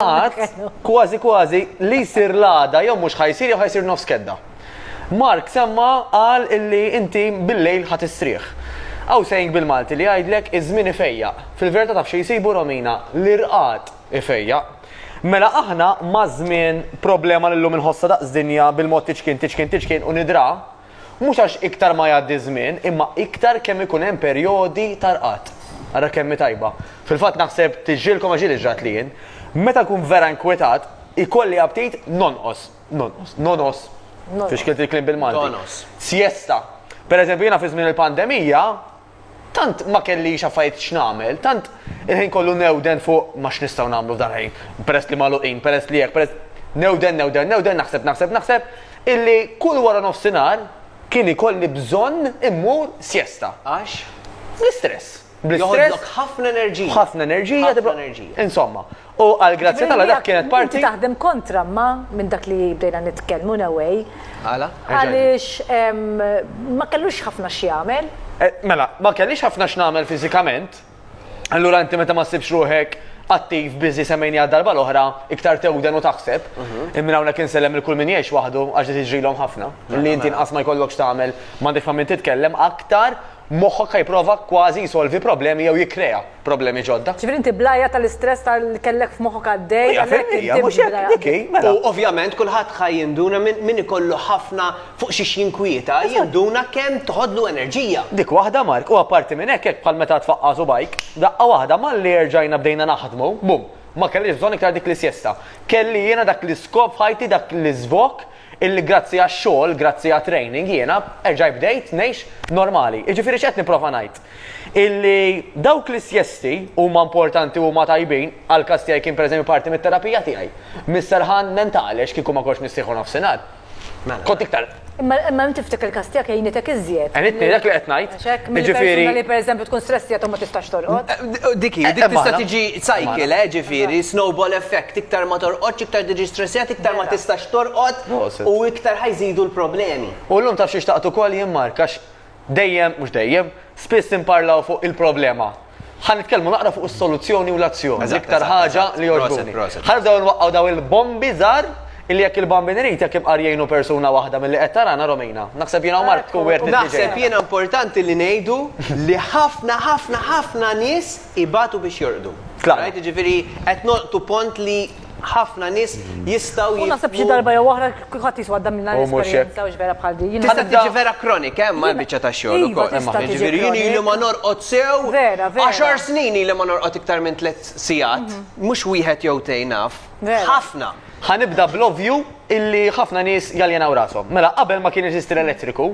Qatt, kważi kważi, li jsir l-għada, jew mhux ħajsir, jew ħajsir nofs kedda. Mark semma qal illi inti bil-lejl ħat istrieħ. Aw sejn bil-Malti li jgħidlek iż-żmien ifejjaq. Fil-verità taf xi jsibu Romina li rqad ifejjaq. Mela aħna maż-żmien problema lillum inħossha daqs dinja bil-mod tiċkien tiċkien tiċkien u nidra Mhux għax iktar ma jgħaddi ż-żmien, imma iktar kemm ikun hemm perjodi ta' rqad. Ara kemm hi tajba. Fil-fatt naħseb tiġrilkom għax hi li ġratli jien. Meta nkun vera inkwetat, ikolli aptit nonqos, nonqos, nonos, fi xkilt il-kliem bil-Malti. Donos. Siesta. Pereżempju jiena fi żmien il-pandemija, Tant ma kellix affarijiet x'nagħmel, tant il-ħin kollu newden fuq ma x'nistgħu nagħmlu f'dal-ħin, peress li magħluqin, peress li hekk, peress. Newden, newden, newden, naħseb, naħseb, naħseb, illi kull waranofsinhar kien ikolli bżonn immur sjesta. Għax? Bl-istress. Bl-istress. Joħodlok ħafna enerġija. B'ħafna enerġija. B'ħafna enerġija. Insomma, U għal grazzja tal dak kienet parti. Taħdem kontra ma minn dak li bdejna nitkellmu in a way. Għala? Għaliex ma kellux ħafna x'jagħmel. Eh, mela, ma kellix ħafna x'nagħmel fiżikament. Allura inti meta ma ssibx ruħek attiv biżi semmejni għad darba l-oħra, iktar tewden u taħseb. Mhm. Immin hawnhekk insellem il-kull min jgħix waħdu għax tiġrilhom ħafna. Li inti nqas ma jkollokx tagħmel, m'għandek ma' min titkellem aktar Moħħok ħa jipprova kważi jsolvi problemi jew jikkrea problemi ġodda. Ġifieri inti bl-għajja tal-istress ta' li kellek f'moħħok għaddej għalhekk inti. Hija mhux hekk, dik hi, mela. U ovvjament kulħadd ħa jinduna min min ikollu ħafna fuq xiex jinkwieta jinduna kemm toħodlu enerġija. Dik waħda Mark, u apparti minn hekk hekk bħal meta tfaqqa' subgħajk, daqqa waħda malli erġajna bdejna naħdmu, bum, ma kellix bżonn iktar dik l-isjesta. Kelli jiena dak l-iskop f'ħajti, dak l-iżvok illi grazzi għax-xogħol, grazzi għat-training jiena erġajt bdejt ngħix normali. Jiġifieri x'qed nipprova ngħid? Illi dawk l-isjesti huma importanti u huma tajbin, għall-każ tiegħi kien pereżempju parti mit-terapija tiegħi, mis-serħan mentali għax kieku ma kontx nissieħu nofsinhar, kont iktar. Imma imma inti ftik il-każ tiegħek għinitek iżjed. Għinitni dak li qed ngħid. Check minn persuna li pereżempju tkun stressjata u ma tistax torqod. Dik hi, dik tista' tiġi cycle, ġifieri snowball effect, iktar ma torqodx, iktar tiġi stressjata, iktar ma tistax torqod u iktar ħa jżidu l-problemi. U llum taf xi xtaqt ukoll jien Mark għax dejjem, mhux dejjem, spiss inparlaw fuq il-problema. Ħa nitkellmu naqra fuq is-soluzzjoni u l-azzjoni. L-iktar ħaġa li jogħġbuni. Ħa nibdew nwaqqgħu daw il-bombi żgħar illi jekk il-bambin irid jekk imqar jgħinu persuna waħda milli qed tarana Romina. Naħseb jiena u Mark tkun wieħed li Naħseb jiena importanti li ngħidu li ħafna ħafna ħafna nies ibatu biex jorqdu. Tlaqna. Jiġifieri qed nolqtu pont li ħafna nies jistgħu jifhmu. U naħseb xi darba jew oħra kulħadd jiswa għadda minn dan l-esperjenza u vera bħal din. Tista' tiġi vera kronika hemm għal biċċa ta' xogħol iva, ukoll. Jiġifieri jien ili ma norqod sew. Vera, vera. Għaxar snin ili ma norqod iktar minn tliet sigħat, mhm. mhux wieħed jew tejn naf. Ħafna. Ħanibda bl-ovvju illi ħafna nies jaljenaw rashom. Mela qabel ma kien jeżisti l-elettriku,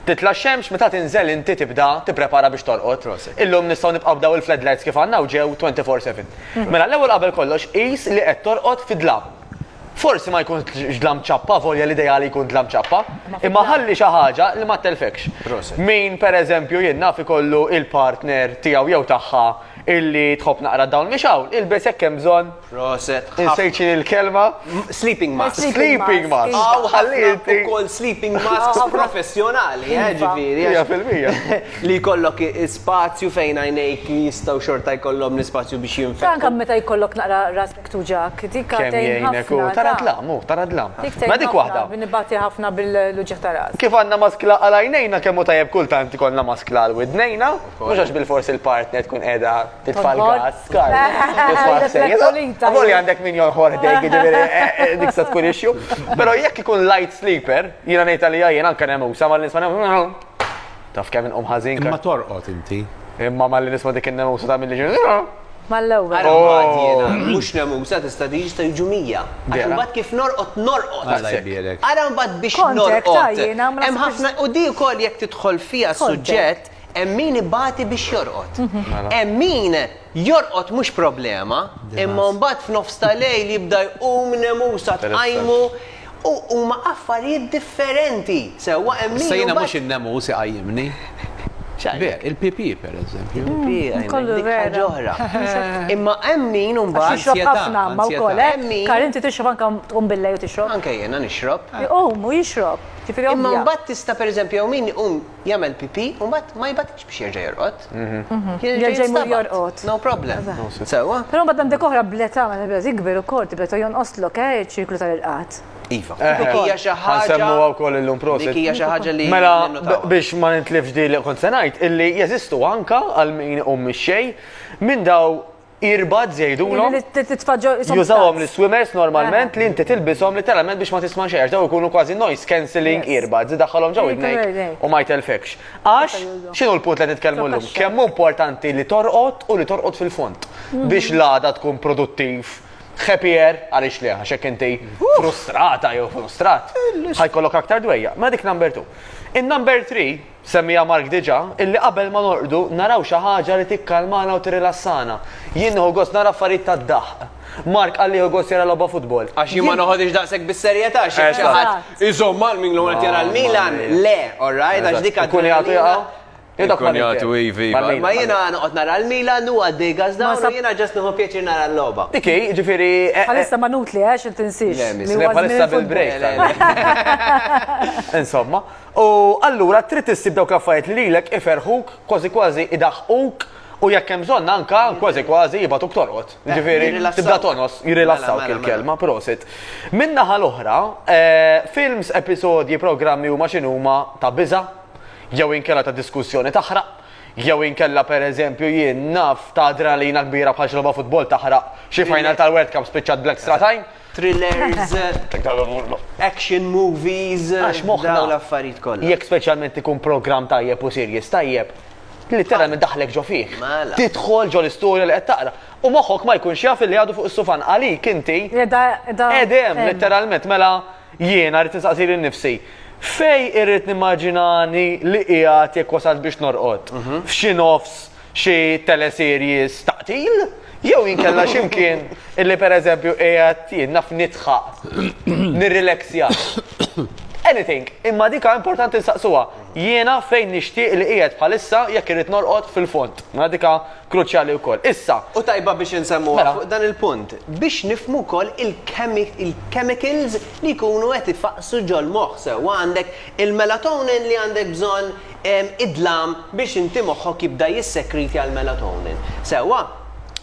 Titla' x-xemx meta tinżel inti tibda tipprepara biex torqod. Prosit. Illum nistgħu nibqgħu b'daw il-fledlights kif għandna u ġew 24 seven. Mela l-ewwel qabel kollox qis li qed torqod fi dlam. Forsi ma jkunx dlam ċappa avolja l-ideali jkun dlam ċappa, imma ħalli xi ħaġa li ma ttellfekx. Prosit. Min pereżempju jien naf ikollu il-partner tiegħu jew tagħha illi tħobb naqra d-dawl mixgħul, ilbes hekk hemm bżonn. Proset. Insejtxi l-kelma. Sleeping mask. Sleeping mask. Aw ħalliet ukoll sleeping mask professjonali, eh, ġifieri. Hija fil-mija. Li jkollok spazju fejn għajnejk jistgħu xorta jkollhom l-ispazju biex jinfetħu. Anke meta jkollok naqra ras miktuġak, dik għatejn ħafna. Tara dlam, hu, tara dlam. Ma dik waħda. Nibati ħafna bil-luġa ta' ras. Kif għandna maskla għal għajnejna kemm hu tajjeb kultant ikollna maskla għal widnejna, mhux għax bil-fors il-partner tkun qiegħda titfa' l-gas, skar. Għamoli għandek min jonħor dejk, ġiviri, eh, eh, eh, dik sa tkun ixju. Pero jekk ikun light sleeper, jina nejta li jajjen anka nemu, sama l-nisma nemu, taf kemm inqom ħazin. Imma torqot inti. Imma ma l-nisma dik nemu sa ta' mill-ġin. Mal-ewwel. Oh. Mux nemu, sa tista' diġi sta jiġu mija. Għax mbagħad kif norqot, norqot. Ara mbagħad biex norqot. Hemm ħafna u di wkoll jekk tidħol fija suġġett Hemm min ibati biex jorqod. Hemm min jorqod mhux problema, imma mbagħad f'nofs ta' lejl jibda jqum nemusa tqajmu u huma affarijiet differenti. Sewwa hemm min. Issa jiena mhux in-nemus iqajjimni. X'għalhekk? Il-pipì pereżempju. Il-pipì jqajjmni. Dik ħaġa oħra. Imma hemm min imbagħad. Għax jixrob ħafna imma wkoll, eh? Kari inti tixrob anke tqum billejl u tixrob? Anke jiena nixrob. Iqum u jixrob. Ġifieri ovvja. Imma mbagħad tista' pereżempju hawn min iqum. jagħmel pipì u mbagħad ma jbatix biex jerġa' jorqod. Jerġa' jmur jorqod. No problem. Sewwa. Però mbagħad għandek oħra bl-età meta beda tikber ukoll tibda ta' jonqoslok eh iċ-ċirklu tal-irqad. Iva. Dik hija xi ħaġa. Semmuha wkoll illum prosit. Dik hija xi ħaġa li. Mela biex ma nintlifx di li kont se ngħid illi jeżistu anka għal min iqum mix-xejn minn daw earbuds jgħidulhom. Jużawhom l-swimmers normalment li inti tilbishom literalment biex ma tisma' xejn daw ikunu kważi noise cancelling earbuds daħħalhom ġew idnejk u ma jtelfekx. Għax x'inhu l-punt li qed nitkellmu llum? Kemm hu importanti li torqod u li torqod fil-fond mhm. biex l-għada tkun produttiv happier għaliex li għax hekk inti frustrata jew frustrat ħajkollok aktar dwejja. Ma dik number 2. In number 3 Semmiha Mark diġà, illi qabel ma norqdu naraw xi ħaġa li tikkalmana u tirrilassana. Jien nieħu gost nara affarijiet tad-daħq. Mark qal li jieħu gost jara logħba futbol. Għax jien ma noħodhiex daqshekk bis-serjetà, xi jekk xi ħadd iżomm għal min l-ewwel qed jara l-Milan, le, all right, għax dik adrenalina. Il-kunjatu hi, hi, hi. Ma jiena noqgħod nara l-Milan, hu għaddej gazdawn u jiena ġast nieħu pjaċir nara l-logħba. Dik hi, jiġifieri. Bħalissa ma nutli, għax intinsiex. Le, bħalissa bil-break. Insomma. U allura trid issib dawk l-affarijiet li lilek iferrħuk, kważi kważi idaħħquk u jekk hemm bżonn anke kważi kważi jibgħatuk torqod. Eh, Jiġifieri tibda tonos, jirrilassawk mela, mela, mela. il-kelma, prosit. Min-naħa l-oħra, eh, films, episodji, programmi huma x'inhuma ta' biża' jew inkella ta' diskussjoni taħraq jew inkella per eżempju jien naf ta' adrenalina kbira bħal xloba futbol taħraq xi final tal-World Cup spiċċat Black Stratajn. thrillers, action movies, dawn l-affarijiet kollha. Jekk speċjalment ikun programm tajjeb u series tajjeb, litteralment idaħħlek ġo fih. Mela. Tidħol ġo l-istorja li qed taqra. U moħħok ma jkunx jaf li għadu fuq is-sufan għalik inti. Qed hemm litteralment mela jiena rrid nistaqsi lil nnifsi. Fejn irrid nimmaġinani li qiegħed jekk wasalt biex norqod? F'xi nofs? xi teleseries ta' qtil, jew inkella x'imkien illi pereżempju qiegħed jien naf nidħaq, nirrilexja. Anything, imma dika importanti nsaqsuha, jiena fejn nixtieq li qiegħed bħalissa jekk irrid norqod fil-fond. Mela dika kruċjali wkoll. Issa. U tajba biex insemmuha fuq dan il-punt, biex nifhmu wkoll il-chemicals li jkunu qed ifaqqsu ġol-moħħ sewwa għandek il-melatonin li għandek bżonn id-dlam biex inti moħħok jibda jissekritja l-melatonin. Sewwa?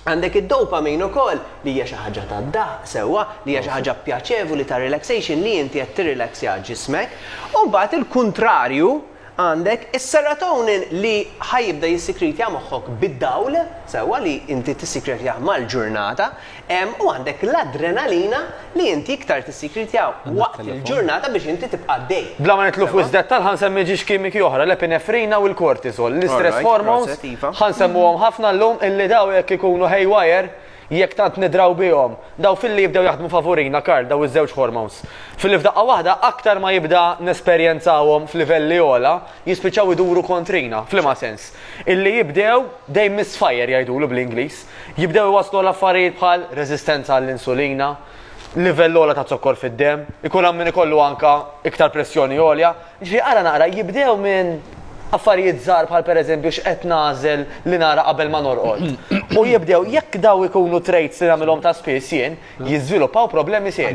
Għandek id-dopamine ukoll li hija xi ħaġa tad-daħq, sewwa, li hija xi ħaġa pjaċevoli ta' relaxation li inti qed tirrilaxja ġismek. U mbagħad il-kuntrarju għandek is-serotonin li ħa jibda jissikritja moħħok bid-dawl, sewwa, li inti tissikretjah mal-ġurnata, Hemm u għandek l-adrenalina li inti iktar tissikritiha waqt il-ġurnata biex inti tibqa' għaddej. Bla ma nidħlu f'wisq dettall ħa nsemmi ġiex kimiċi oħra, l-epinefrina u l-cortisol, l-istress hormones, ħa nsemmuhom ħafna llum illi daw jekk ikunu haywire, jekk tant nidraw bihom, daw filli jibdew jaħdmu favurina, Karl, daw iż-żewġ hormones. Filli f'daqqa waħda aktar ma jibda nesperjenzawhom f'livelli ogħla, jispiċċaw iduru kontrina. F'liema sens? Illi jibdew dejn misfire jgħidulu bl-Ingliż. Jibdew iwasslu għal affarijiet bħal reżistenza għall-insulina, livell ogħla ta' zokkor fid-demm, ikun hawn min ikollu anke iktar pressjoni għolja. Jiġifieri ara naqra, jibdew minn affarijiet żgħar bħal pereżempju x'qed nagħżel li nara qabel ma norqod. U jibdew, jekk dawn ikunu traits li nagħmilhom ta' spiss jien, jiżviluppaw problemi serji.